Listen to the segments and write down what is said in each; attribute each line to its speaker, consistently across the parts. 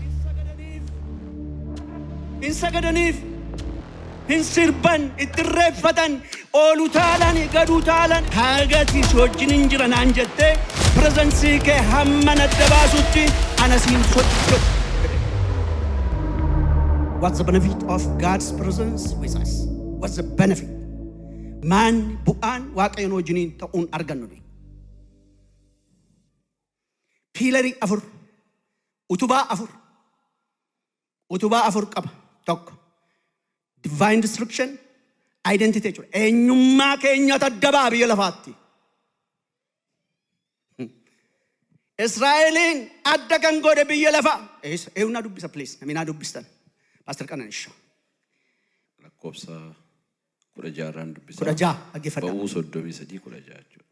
Speaker 1: Hin sagadaniif, hin sagadaniif, hin sirban, itti irreeffatan, ol utaalan, gad utaalan. Haga ati si wajjinin jira naan jettee pirezansii kee hamman adda baasutti ana si hin socho'u jedhe. What's the benefit of God's presence with us? What's the benefit? Maanni bu'aan Waaqayyoon wajjiniin ta'uun argannu dha. piilarii afur, utubaa afur, utubaa afur qaba. Tokko divine destruction, identity jechuudha. Eenyummaa keenya taddabaa biyya lafaatti. Israa'eliin adda kan godhe biyya lafaa. Eessa? Eewu naa dubbisa please. Namni naa dubbistan. Paastar Qananisha.
Speaker 2: lakkoofsa 16 irraan dubbisaa. 16 dhaggeeffadhaa.
Speaker 1: Ba'uu
Speaker 2: 33 16 jechuudha.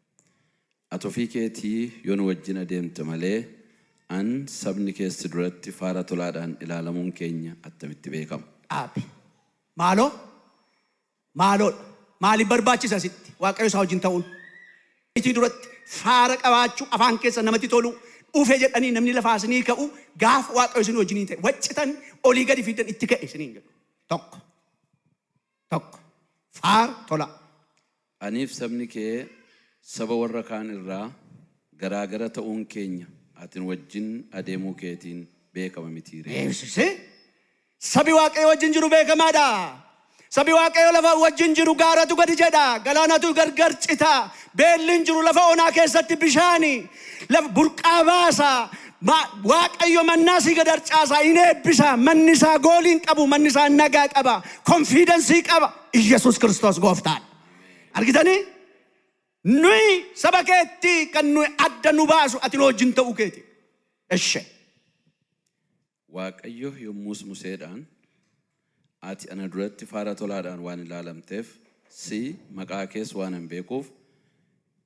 Speaker 2: Ati ofii keetii yoo nu wajjin adeemte malee an sabni kees si duratti faara tolaadhaan ilaalamuun keenya attamitti beekama? dhaabi.
Speaker 1: Maaloo? Maaloodha. Maaliif barbaachisa sitti Waaqayyo isaa wajjin ta'uun? Itii duratti faara qabaachuu afaan keessa namatti toluu dhufe jedhanii namni lafaa isinii ka'u gaafa Waaqayyo isin wajjinii ta'e waccitan olii gadi fiiddan itti ka'e isiniin jedhu. Tokko. 1. Faar. tolaa. Aniif
Speaker 2: sabni kee saba warra kaan irraa garaa gara ta'uun keenya ati nu wajjin adeemuu keetiin beekama mitii ree? Deebisise,
Speaker 1: Sabi Waaqayyo wajjin jiru beekamaa dha. Sabi Waaqayyo lafa wajjin jiru gaaratu gadi jedha, galaanatu gargar cita, beelli hin jiru, lafa onaa keessatti bishaani laf burqaa baasa, Ma, Waaqayyo mannaa sii gad harcaasaa, hin eebbisaa, manni isaa goolii hin qabu, manni isaa nagaa qaba, konfiidensii qaba. Iyyasuus Kiristoos gooftaadha. Argitanii? Nuyi saba keetti kan nuyi adda nu baasu ati nu wajjin ta'uu keeti. Eshe.
Speaker 2: Waaqayyo yommus Museedhaan, Ati ana duratti faara tolaadhaan waan ilaalamteef, si, maqaa kees waanan beekuuf,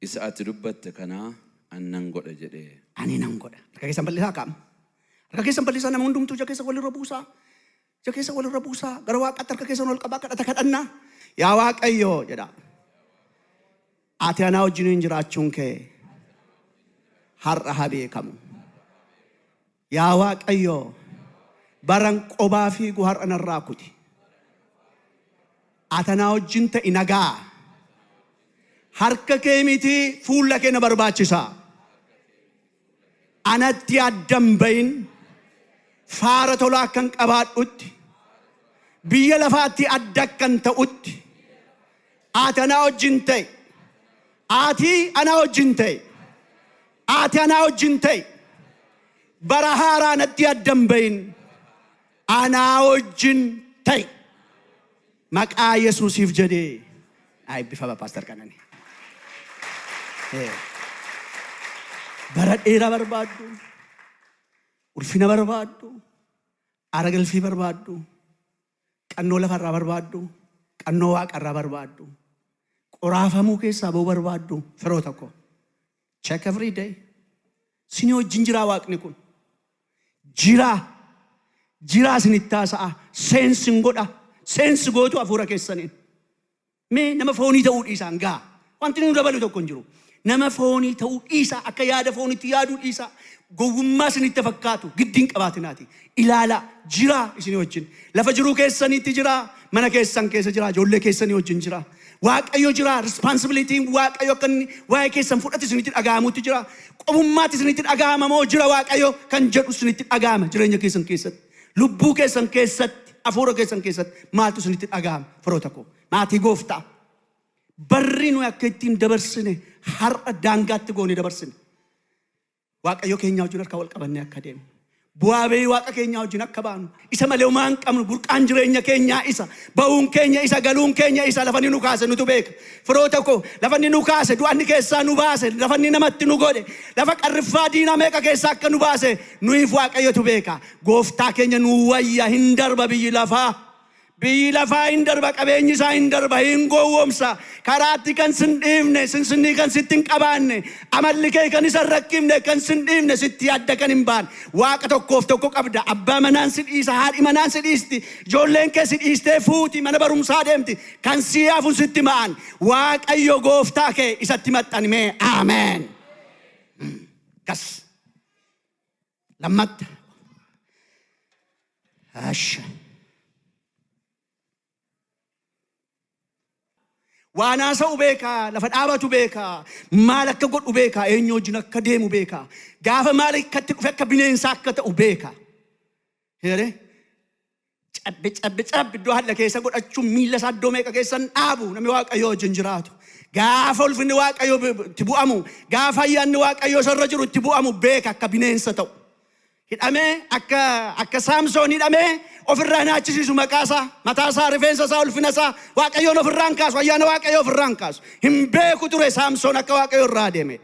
Speaker 2: isa ati dubbatte kana ani nan godha jedhe. Ani nan godha. Harka
Speaker 1: keessan bal'isaa akka amma. Harka keessan bal'isaa nama hundumtuu ija keessa walirra buusaa. Ija keessa walirra buusaa. Gara waaqaatti harka keessan ol qabaa kadhata kadhannaa. Yaa Waaqayyo jedhaa. Ati anaa wajjiniin jiraachuun kee har'a haa beekamu. Yaa Waaqayyo, baran qobaa fiigu har'a narraa kuti. Ati anaa wajjin ta'i nagaa. Harka kee miti fuula kee na barbaachisa. Anatti addan bahin faara tolaa akkan qabaadhutti biyya lafaatti adda akkan ta'utti ati anaa wajjin ta'i. Ati anaa wajjin ta'i. Ati anaa wajjin ta'i. Bara haaraa natti adda hin ba'in. Anaa wajjin ta'i. Maqaa Yesuusiif jedhee. Naa eebbifama Paastar Qananii. Ee, Bara dheeraa barbaaddu, ulfina barbaaddu, aara galfii barbaaddu, Qannoo lafa irraa barbaaddu, qannoo waaqa irraa barbaaddu, qoraafamuu keessaa ba'uu barbaaddu firoota koo. Check every day. Sinii wajjin jiraa waaqni kun. Jiraa. Jiraa isinitti haasa'a. Seensi hin godha. Seensi gootu hafuura keessaniin. Mee nama foonii ta'uu dhiisaa ngaa. Wanti nu dabalu tokko hin jiru. Nama foonii ta'uu dhiisaa akka yaada foonitti yaaduu dhiisaa gowwummaa isinitti fakkaatu giddi hin qabaatinaati. Ilaalaa jiraa isinii wajjin. Lafa jiruu keessaniitti jiraa mana keessan keessa jiraa ijoollee keessanii wajjin jiraa. Waaqayyo jiraa responsibilitiin waaqayyo akka inni waa'ee keessan fudhatu isinitti dhaga'amutti jiraa. Qofummaatti isinitti dhaga'ama moo jira waaqayyo kan jedhu isinitti dhaga'ama jireenya keessan keessatti. Lubbuu keessan keessatti, hafuura keessan keessatti maaltu isinitti dhaga'ama firoota koo? Maatii gooftaa. Barri nuyi akka ittiin dabarsine har'a daangaatti goone dabarsine. Waaqayyo keenyaa wajjin harka wal qabannee akka deemnu. Bu'aa ba'ii waaqa keenyaa wajjin akka baanu. Isa malee homaa hin qabnu burqaan jireenya keenyaa isa. Ba'uun keenya isa galuun keenya isa lafa inni nu kaase nutu beeka. Firoota koo lafa inni nu kaase du'anni keessaa nu baase lafa inni namatti nu godhe lafa qarriffaa diinaa meeqa keessaa akka nu baase Nuyiif Waaqayyotu beeka. Gooftaa keenya nuu wayya hin darba biyyi lafaa. Biyyi lafaa hin darba qabeenyi isaa hin darba hin gowwoomsa. Karaatti kan sin dhiifne sinsinnii kan sitti hin qabaanne amalli kee kan isa hin rakkifne kan sin dhiifne sitti adda kan hin baane waaqa tokkoof tokko qabda abbaa manaan si dhiisa haadhi manaan si dhiisti ijoolleen kee si dhiistee fuuti mana barumsaa deemti kan sii hafu sitti ma'an waaqayyo gooftaa kee isatti maxxanimee aameen. Gas. Lammatta. Asha. Waan haasa'u beekaa, lafa dhaabatu beekaa, maal akka godhu beekaa, eenyu wajjin akka deemu beekaa, gaafa maal akkatti dhufe akka bineensaa akka ta'u beekaa. Heeree? Cabbi cabbi cabbi iddoo halla keessa godhachuun miila isaa iddoo meeqa keessan dhaabu namni waaqayyoo wajjin jiraatu. Gaafa ulfinni waaqayyoo bi- bi- itti bu'amu, gaafa ayyaanni waaqayyoo isarra jiru itti bu'amu beeka akka bineensa ta'u. Hidhamee akka akka saamsoon hidhamee ofirraa hin haachisiisu maqaa isaa, mataa isaa, rifeensa isaa, ulfina isaa waaqayyoon ofirraa hin kaasu, ayyaana waaqayyoo ofirraa hin kaasu. Hin beeku ture saamsoon akka waaqayyoo irraa deeme.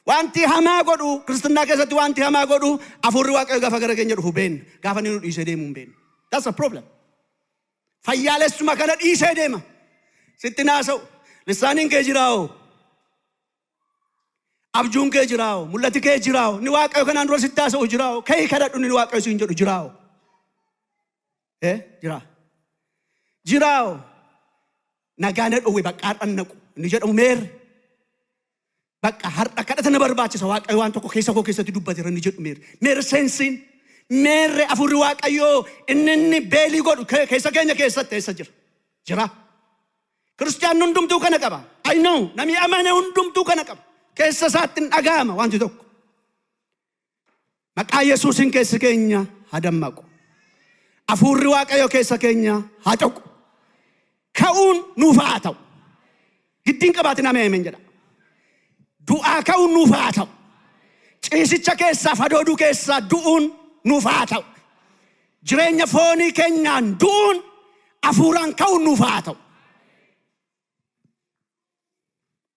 Speaker 1: Wanti hamaa godhu, Kiristinnaa keessatti wanti hamaa godhu, Hafuurri Waaqayyoo gaafa gara keenya dhufu beenna. Gaafa inni nu dhiisee deemu hin beennu. That's the problem. Fayyaalessuma kana dhiisee deema. Sitti naasa'u. Lissaaniin kee jiraa'oo. Abjuun kee jiraa'oo. Mul'ati kee jiraa'oo. Ni Waaqayyo kanaan dura sitti haasa'u jiraa'oo. Ka'ii kadhadhu ni Waaqayyo siin jedhu jiraa'oo. Eh, jiraa. Jiraa'oo. Nagaa na dhowwe baqqaadhaan naqu. Inni jedhamu meerre. Baqqa har'a kadhata na barbaachisa waaqayyo waan tokko keessa koo keessatti dubbateera inni jedhu meerre meerre seensiin meerre afurri waaqayyoo inni inni beelii godhu ke- keessa keenya keessatti eessa jira jira Kiristiyaan hundumtuu kana qaba. I know namni amane hundumtuu kana qaba. Keessa isaatti hin dhaga'ama wanti tokko. Maqaa Yesuusiin keessi keenya haa dammaqu. Afuurri Waaqayyo keessa keenya haa coqu. Ka'uun nuuf haa ta'u. Giddiin qabaatin amee ameen jedha. Du'aa ka'uun nuuf haa ta'u. Ciisicha keessaa fadooduu keessaa du'uun nuuf haa ta'u. Jireenya foonii keenyaan du'uun afuuraan ka'uun nuuf haa ta'u.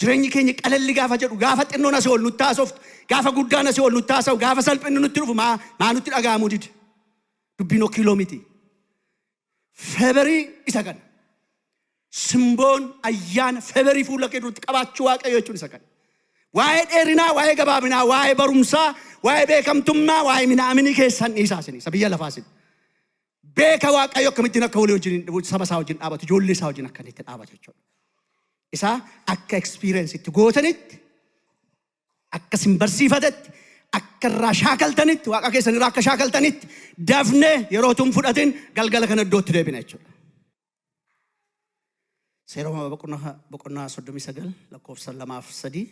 Speaker 1: Jireenyi keenya qalalli gaafa jedhu, gaafa xinnoon asii ol nutti haasoftu, gaafa guddaan asii ol nutti haasa'u, gaafa salphinni nutti dhufu maa, maa nutti dhaga'amuu dide? Dubbiin okiiloo miti. Feberii isa kana. Simboon ayyaana feberii fuula kee duratti qabaachuu waaqayyoo jechuun isa kana. Waa'ee dheerinaa, waa'ee gabaabinaa, waa'ee barumsaa, waa'ee beekamtummaa, waa'ee minaaminii keessan dhiisaa isin isa biyya lafaa isin. beeka Waaqayyo akkamittiin akka walii wajjin hin- saba isaa wajjin dhaabatu, ijoollee isaa wajjin akka inni itti dhaabatu jechuudha. Isaa akka experience itti gootanitti, akka isin barsiifatetti, akka irraa shaakaltanitti, waaqa keessan irraa akka shaakaltanitti dafnee yeroo utuu hin fudhatin galgala kana iddootti deebina jechuudha. Seera uumamaa boqonnaa boqonnaa 39 lakkoofsa 2 fi 3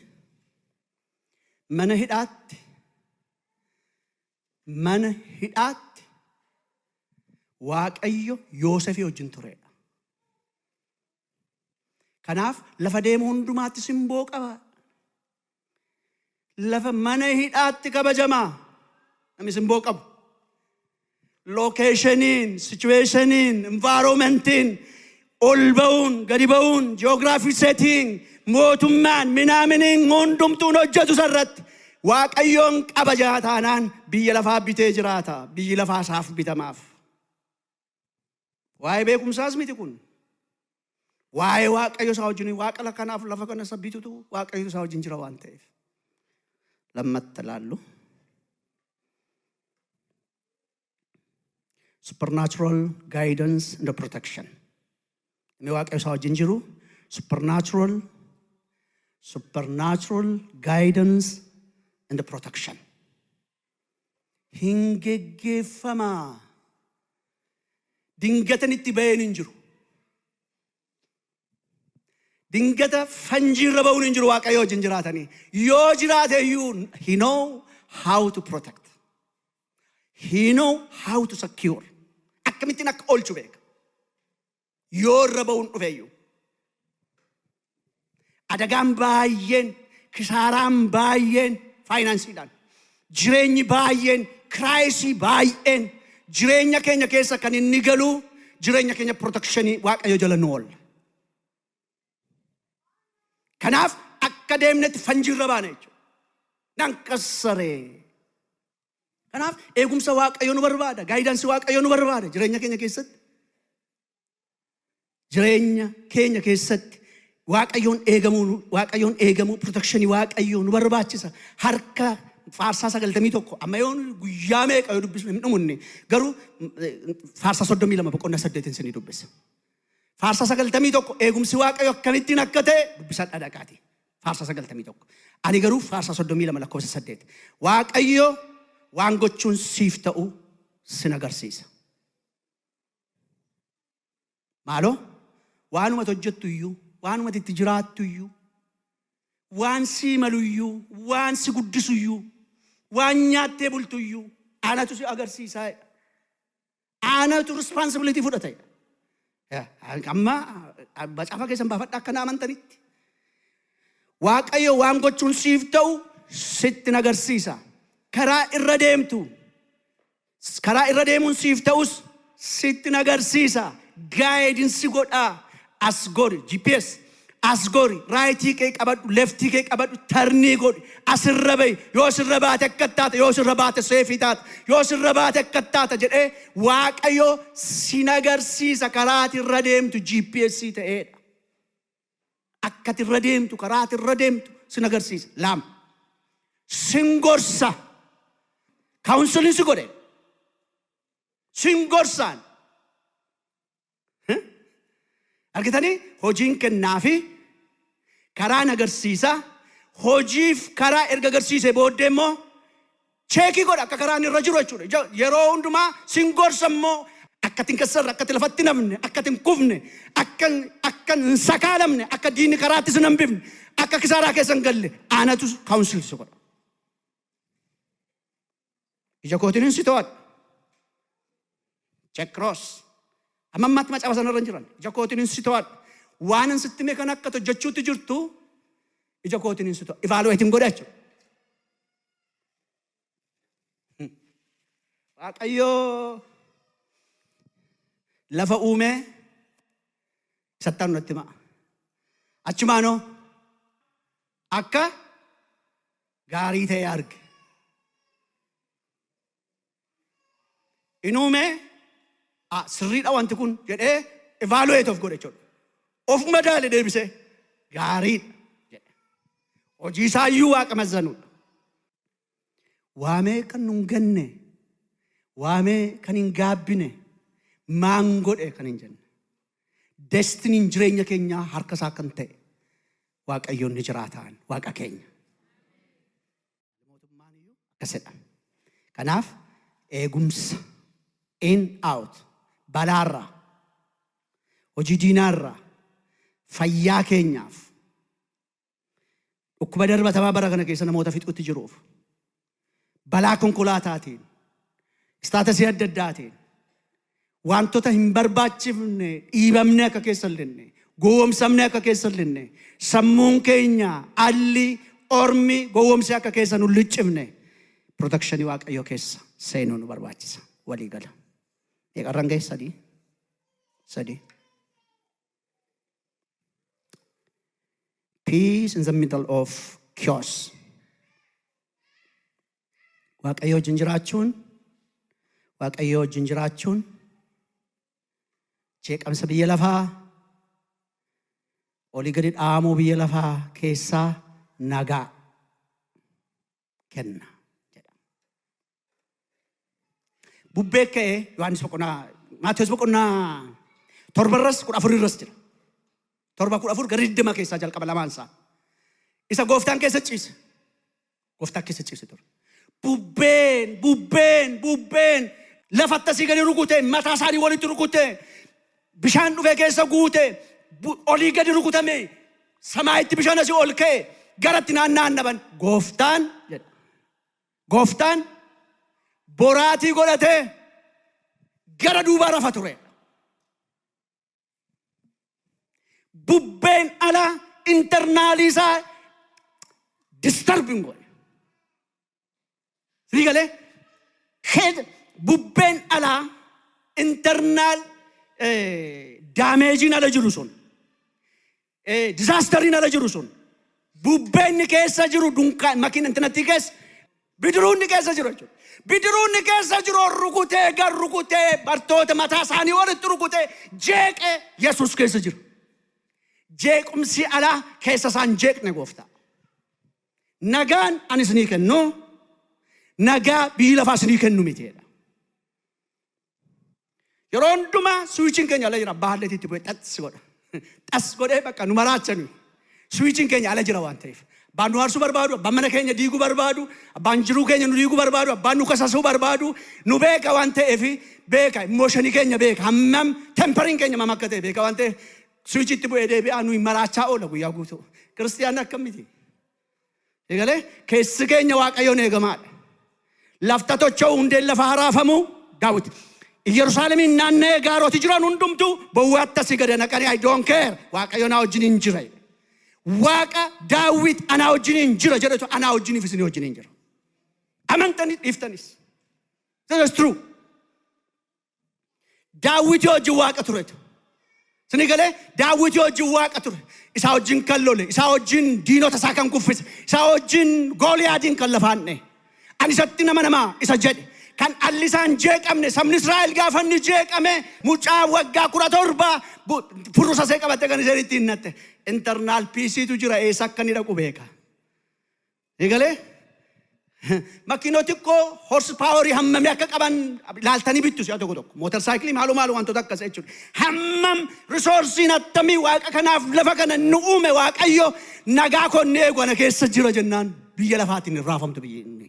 Speaker 1: mana hidhaatti Mana hidhaatti Waaqayyo Yoosefii wajjin tureedha. Kanaaf lafa deemu hundumaatti simboo qaba. Lafa mana hidhaatti kabajamaa namni simboo qabu. Lookeeshiniin, sichuweeshiniin, envaaroomentiin Ol ba'uun, gadi ba'uun, geography setting, mootummaan, minaaminiin hundumtuun hojjetu isarratti Waaqayyoon kabaja taanaan biyya lafaa bitee jiraata. Biyyi lafaa isaaf bitamaaf. Waa'ee beekumsaas miti kun. Waa'ee Waaqayyo isaa wajjin waaqa la- kanaaf lafa kana isa bitutu Waaqayyo isaa wajjin jira waan ta'eef. Lammatta laallu. supernatural guidance and protection inni waaqayyo isaa wajjin jiru supernatural supernatural guidance and protection hin geggeeffamaa dingatan itti ba'een hin jiru Dingata fanjii irra ba'uun hin jiru waaqayyo wajjin jiraatanii. Yoo jiraate iyyuu he know how to protect. He know how to secure. Akkamittiin akka oolchu beeka. Yoo irra ba'uun dhufe iyyuu. Adagaan baay'een, kisaaraan baay'een faayinaansiidhaan, jireenyi baay'een, kiraayisii baay'een jireenya keenya keessa kan inni galu jireenya keenya pirootekshinii Waaqayyo jala nu oolla. Kanaaf akka deemnetti fanjiirra baana jechuudha. Nan qassaree. Kanaaf eegumsa Waaqayyo nu barbaada, gaayidansii Waaqayyo nu barbaada jireenya keenya keessatti. jireenya keenya keessatti waaqayyoon eegamuu waaqayyoon eegamuu protekshinii waaqayyoo nu barbaachisa harka faarsaa sagaltamii tokko amma yoon guyyaa meeqa yoo dubbisnu hin dhumunne garuu eh, faarsaa soddomii lama boqonnaa saddeetiin isinii dubbisa. Faarsaa sagaltamii tokko eegumsi waaqayyo akkamittiin akka ta'e dubbisaa dhadhaqaati. Faarsaa sagaltamii tokko. Ani garuu faarsaa soddomii lama lakkoofsa saddeet. Waaqayyo waan gochuun siif ta'u sin agarsiisa. Maaloo waanumati hojjettu iyyuu, waanumati itti jiraattu iyyuu, waan sii malu iyyuu, waan si guddisu iyyuu, waan nyaattee bultu iyyuu anatu si agarsiisaa jedha. Anatu responsibility fudhata jedha. Eh, Amma ah, macaafa keessan baafadha akka na amantanitti. Waaqayyo waan gochuun siif ta'u sitti nagarsiisa. Karaa irra deemtu Karaa irra deemuun siif ta'us sittin agarsiisa. Gaayidin si godhaa. As gori GPS. As gori raayitii kee qabadhu leftii kee qabadhu tarnii godhi asirra bahi yoo sirra baate akka taata yoo sirra baate seefii taata yoo sirra baate akka taata jedhee waaqayyo sin agarsiisa karaati irra deemtu GPS ta'eedha. Akka ati irra deemtu, karaa ati irra deemtu sin agarsiisa. Lama. Sin gorsa. Kaawunsiliin si godhe. Sin gorsaan. Argitanii hojiin kennaa fi karaan agarsiisa. Hojiif karaa erga agarsiise booddee immoo Cheekii godha akka karaan irra jiru jechuudha. Ija- Yeroo hundumaa sin gorsa immoo akka tin kassarre, akka tin lafatti hin hafne, akka tin kufne, akka akka hin sakaalamne, akka diinni karaatti sin hambifne, akka kisaaraa keessa hin galle aanatu kaawunsil si godha. Ija kootiin hin si to'adha. Chekroos. Amma ammaatti macaafa sanarra hin jiran. Ija kootiin hin si to'adha. Waan hin sitti hime kan akka hojjechuutti jirtu ija kootiin hin si to'adha. Ivaaluweetiin godha jechuudha. Waaqayyoo lafa uumee sattaan natti himaa. Achumaanoo akka gaarii ta'e arge. in uume ah, sirriidha wanti kun jedhee evaluate of godhe jechuudha. Of madaale deebisee gaariidha jedhe. Hojii isaa iyyuu waaqa mazzanuudha. Waamee kan nun ganne, waamee kan hin gaabbine, maan godhe kan hin jenne. Destiniin jireenya keenyaa harka isaa kan ta'e waaqayyoon ni jiraataan waaqa keenya. akkasidha. Kanaaf eegumsa in out balaarraa hojii diinaarraa fayyaa keenyaaf dhukkuba darbatamaa bara kana keessa namoota fixutti jiruuf balaa konkolaataatiin istaatasii adda addaatiin Waantota hin barbaachifne dhiibamnee akka keessa hin lenne, gowwoomsamnee akka keessa hin lenne, sammuun keenya alli, ormi gowwoomsee akka keessa nu hin liccifne pirootekshinii Waaqayyoo keessa seenuu nu barbaachisa. Walii gala. Meeqarran gahe sadii? Sadii. Peace in the middle of chaos. waaqayyoo wajjin jiraachuun waaqayyoo wajjin jiraachuun jeeqamsa biyya lafaa olii gadi dhaamuu biyya lafaa keessaa nagaa kenna jedha. Bubbee ka'ee Yohaannis boqonnaa Maatiyus boqonnaa torbarras kudha afurirras jira. Torba kudha afur gara digdama keessaa jalqaba lamaan isaa. Isa gooftaan keessa ciise. Gooftaa keessa ciise ture. Bubbeen, bubbeen, bubbeen lafatti asii gadi rukute, mataa isaanii walitti rukute, bishaan dhufee keessa guute, bu- olii gadi rukutame, samaayitti bishaan asii ol ka'e, garatti naanna'an dhaban. Gooftaan jedha. Gooftaan boraatii godhatee gara duubaa rafa ture. Bubbeen alaa internaalii isaa disturbing godhe. Sii galee keessa bubbeen alaa internaal daameejiin ala jiru sun Eh, disaastarriin ala jiru sun bubbee inni keessa jiru dunkaan makiin intinattii keessa bidiruu inni keessa jiru jechuudha. Bidiruu inni keessa jiru ol rukutee gar rukutee bartoota mataa isaanii walitti rukutee jeeqee Yesuus keessa jiru. Jeequmsi alaa keessa isaan jeeqne gooftaa. Nagaan ani isinii kennu nagaa biyyi lafaa isinii kennu miti jedha. Yeroo hundumaa suwichiin keenya ala jira. Abbaa halleetii itti bu'ee xas godha. Xas godhee bakka nu maraachanii. Suwichiin keenya ala jira waan ta'eef. Abbaan nu aarsuu barbaadu, abbaan mana keenya diiguu barbaadu, abbaan jiruu keenya nu diiguu barbaadu, abbaan nu kasasuu barbaadu, nu beeka waan ta'eef beeka. Immooshinii keenya beeka. Hammam temperiin keenya mam akka ta'e beeka waan ta'eef suwichii itti bu'ee deebi'aa nuyi maraachaa oola guyyaa guutuu. Kiristiyaanni akkam miti. Egalee keessi keenya waaqayyoon eegamaadha. Lafta tocha'u hundeen lafa haraafamu daawwiti. Iyyerusaalemiin naanna'ee gaaroti jiran hundumtu bowwaatti asii gada naqanii I don't care waaqayyo naa wajjin hin jira. Waaqa daawwit anaa wajjin hin jira jedhetu anaa wajjiniif isinii wajjin hin jira. Amantanii dhiiftanis. This is true. Daawwitii wajjin waaqa ture. Sini galee daawwitii wajjin waaqa ture. Isaa wajjin kan lole, isaa wajjin diinota isaa kan kuffise, isaa wajjin gooliyaadiin kan lafaan dha'e. Ani isatti nama namaa isa jedhe. Kan dhalli isaa hin jeeqamne sabni Israa'el gaafa inni jeeqame mucaa waggaa kudha torba bu- furrusa see qabatte kan isheen ittiin natte. Internaal piisiitu jira eessa akka inni dhaqu beeka. Ni galee? Makiinoo xiqqoo horse power hammamii akka qaban ilaaltanii bittu si'a tokko tokko. Mootar saayikilii maaloo maaloo wantoota akkas jechuudha. Hammam risoorsiin attamii waaqa kanaaf lafa kana nu uume waaqayyo nagaa koo ni eegu ana keessa jira jennaan biyya lafaatiin hin raafamtu biyyi inni.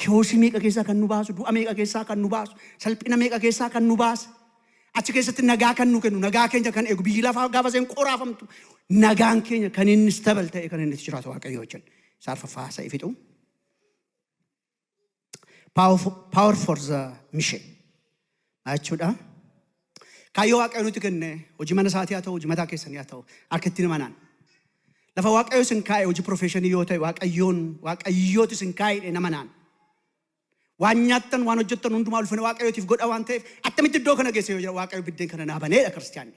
Speaker 1: Kiyoosi meeqa keessaa kan nu baasu, du'a meeqa keessaa kan nu baasu, salphina meeqa keessaa kan nu baase, achi keessatti nagaa kan nu kennu, nagaa keenya kan eegu, biyyi lafaa gaafa isheen qoraafamtu, nagaan keenya kan inni stabal ta'e kan inni itti jiraatu waaqayyoo wajjin. Isa arfaffaa haasa'ee fixu. Power for- power for the mission. Maal jechuudha? Kaayyoo Waaqayyo nutti kenne hojii mana isaatii haa ta'u, hojii mataa keessanii haa ta'u, akka ittiin himanaan. Lafa Waaqayyo isin kaa'e hojii profeeshinii yoo ta'e Waaqayyoon Waaqayyooti isin kaa'edhe nama naan. Waan nyaattan waan hojjettan hundumaa ulfina Waaqayyootiif godha waan ta'eef attamitti iddoo kana geesse yoo jira Waaqayyo biddeen kana naa baneedha kiristiyaanni.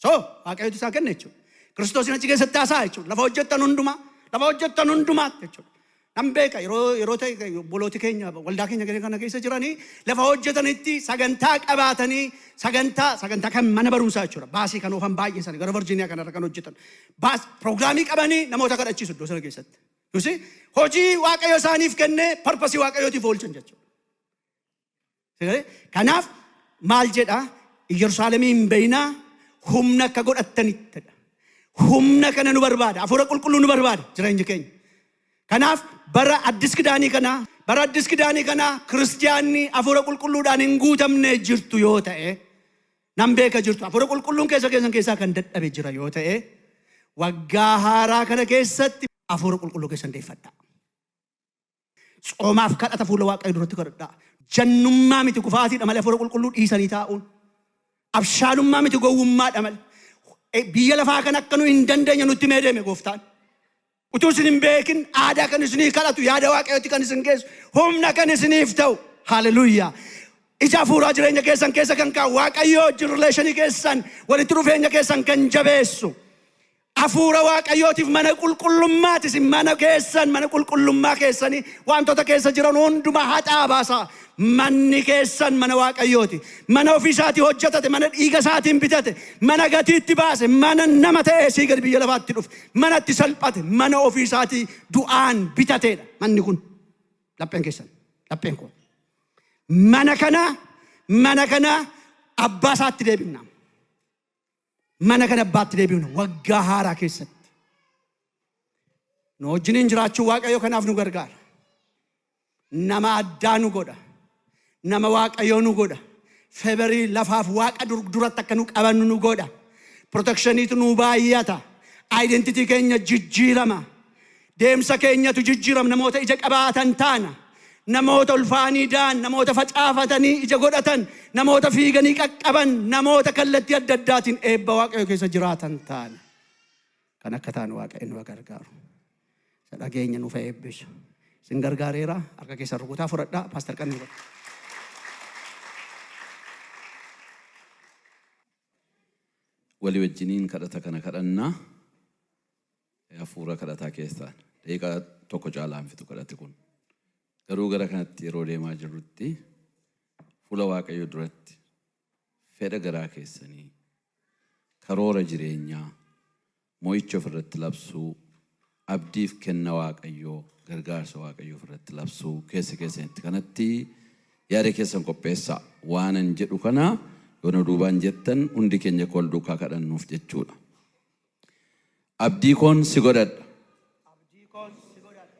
Speaker 1: So, Waaqayyotu isaa kenne jechuudha. Kiristoosiin achi keessatti haasa'a jechuudha. Lafa hojjettan hundumaa, lafa hojjettan hundumaa jechuudha. Nan beeka yeroo yeroo ta'e obbolooti keenya waldaa keenya gara kana keessa jiranii lafa hojjetanitti sagantaa qabaatanii sagantaa sagantaa kan mana barumsaa jechuudha. Baasii kan oofan baay'ee sana gara Virginia kanarra kan hojjetan. Baas pirogiraamii qabanii namoota kadhachiisu iddoo sana keessatti. Yusi hojii Waaqayyo isaaniif kenne parpasii Waaqayyootiif oolchan jechuudha. Kanaaf maal jedha Yerusaalemii hin bayinaa humna akka godhattanittidha. Humna kana nu barbaada. Hafuura qulqulluu nu barbaada jireenya keenya. Kanaaf bara addis kidaanii kanaa bara addis kidaanii kanaa kiristiyaanni hafuura qulqulluudhaan hin guutamne jirtu yoo ta'e nan beeka jirtu hafuura qulqulluun keessa keessan keessaa kan dadhabe jira yoo ta'e waggaa haaraa kana keessatti hafuura qulqulluu keessan deeffadhaa. Tsoomaaf kadhata fuula Waaqayyo duratti kadhadhaa. Jannummaa miti kufaatiidha malee hafuura qulqulluu dhiisanii taa'uun. Abshaalummaa miti gowwummaadha malee. E, Biyya lafaa kan akka nu hin dandeenye nutti mee deeme gooftaan. Utuu isin hin beekin aadaa kan isinii kadhatu yaada waaqayyotti kan isin geessu humna kan isiniif ta'u. Haleluuyaa. Ija hafuuraa jireenya keessan keessa kan kaa'u waaqayyoo wajjin rileeshinii keessan walitti dhufeenya keessan kan jabeessu. Afuura Waaqayyootiif mana qulqullummaati isin mana keessan mana qulqullummaa keessani waantota keessa jiran hundumaa haxaa baasaa manni keessan mana Waaqayyooti mana ofii isaatii hojjetate mana dhiiga isaatiin bitate mana gatiitti baase mana nama ta'e sii gad biyya lafaatti dhufe mana itti salphate mana ofii isaatii du'aan bitateedha manni kun lapheen keessan lapheen koo mana kana mana kana abbaa isaatti deebifna mana kan abbaatti deebi'uun waggaa haaraa keessatti nu wajjiniin jiraachuu waaqayyo kanaaf nu gargaara. Nama addaa nu godha. Nama waaqayyoo nu godha. Feberii lafaaf waaqa dur- duratti akka nu qabannu nu godha. Protekshiniitu nu baay'ata. Identitii keenya jijjiirama. Deemsa keenyatu jijjiirama. Namoota ija qabaatan taana. Namoota ulfaanii da'an, namoota facaafatanii ija godhatan, namoota fiiganii qaqqaban, namoota kallattii adda addaatiin eebba Waaqayyo keessa jiraatan taana. Kan akka taanu Waaqayyo nu gargaaru. Isa dhageenya nuuf eebbisu. Isin gargaareera. Harka keessan rukutaa fudhadhaa. Paastar Qannuu godha.
Speaker 2: Walii wajjiniin kadhata kana kadhannaa. hafuura kadhataa keessaan daqiiqaa tokko caalaa hin fixu kadhati kun. Garuu gara kanatti yeroo deemaa jirrutti fuula Waaqayyoo duratti fedha garaa keessanii karoora jireenyaa mo'icha ofirratti labsuu abdiif kenna Waaqayyoo gargaarsa Waaqayyoo ofirratti labsuu keessa keessanitti kanatti yaada keessan qopheessaa waanan jedhu kana yoona duubaan jettan hundi keenya akka wal duukaa kadhannuuf jechuudha. Abdii koon si godhadha.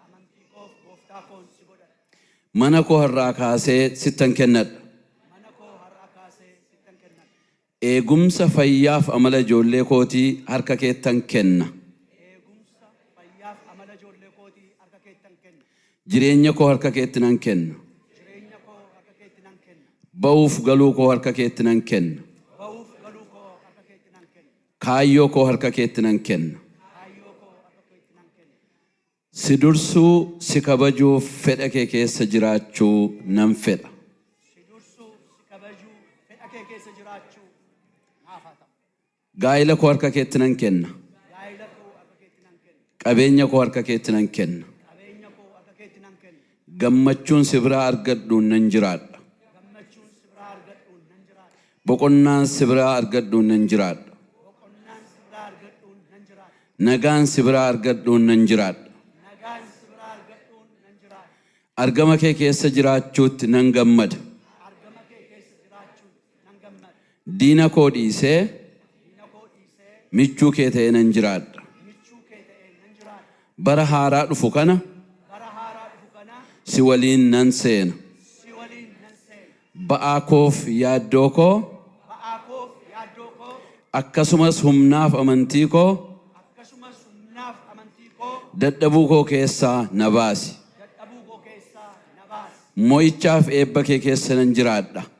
Speaker 2: Amantii koof Gooftaa koon si godhadha. Mana koo har'aa kaasee sittan kennadha. Eegumsa fayyaaf amala ijoollee kootii harka keettan kenna. Jireenya koo harka keetti nan kenna. Ba'uuf galuu koo harka keetti nan kenna. Kaayyoo koo harka keetti nan kenna. Si dursuu, si kabajuuf fedha kee keessa jiraachuu nan fedha. Gaa'ila koo harka keetti nan kenna. Qabeenya koo harka keetti nan kenna. Gammachuun si biraa argadhuun nan jiraadha. Boqonnaan si biraa argadhuun nan jiraadha. Nagaan si biraa argadhuun nan jiraadha. Argama kee keessa jiraachuutti nan gammada. Diina koo dhiisee michuu kee ta'ee nan jiraadha. Bara haaraa dhufu kana si waliin nan seena. Ba'aa koof yaaddoo koo akkasumas humnaaf amantii koo dadhabuu koo keessaa na baasi. Mo'ichaaf eebba kee keessa nan jiraadha.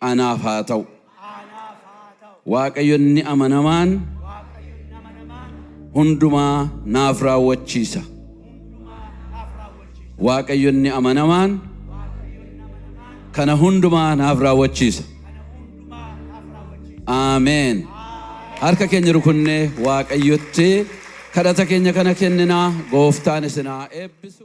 Speaker 2: anaaf haa ta'u. Waaqayyo inni amanamaan hundumaa naaf raawwachiisa. Waaqayyo inni amanamaan kana hundumaa naaf raawwachiisa. Ameen. Harka keenya rukunnee Waaqayyotti kadhata keenya kana kenninaa gooftaan isinaa eebbisu.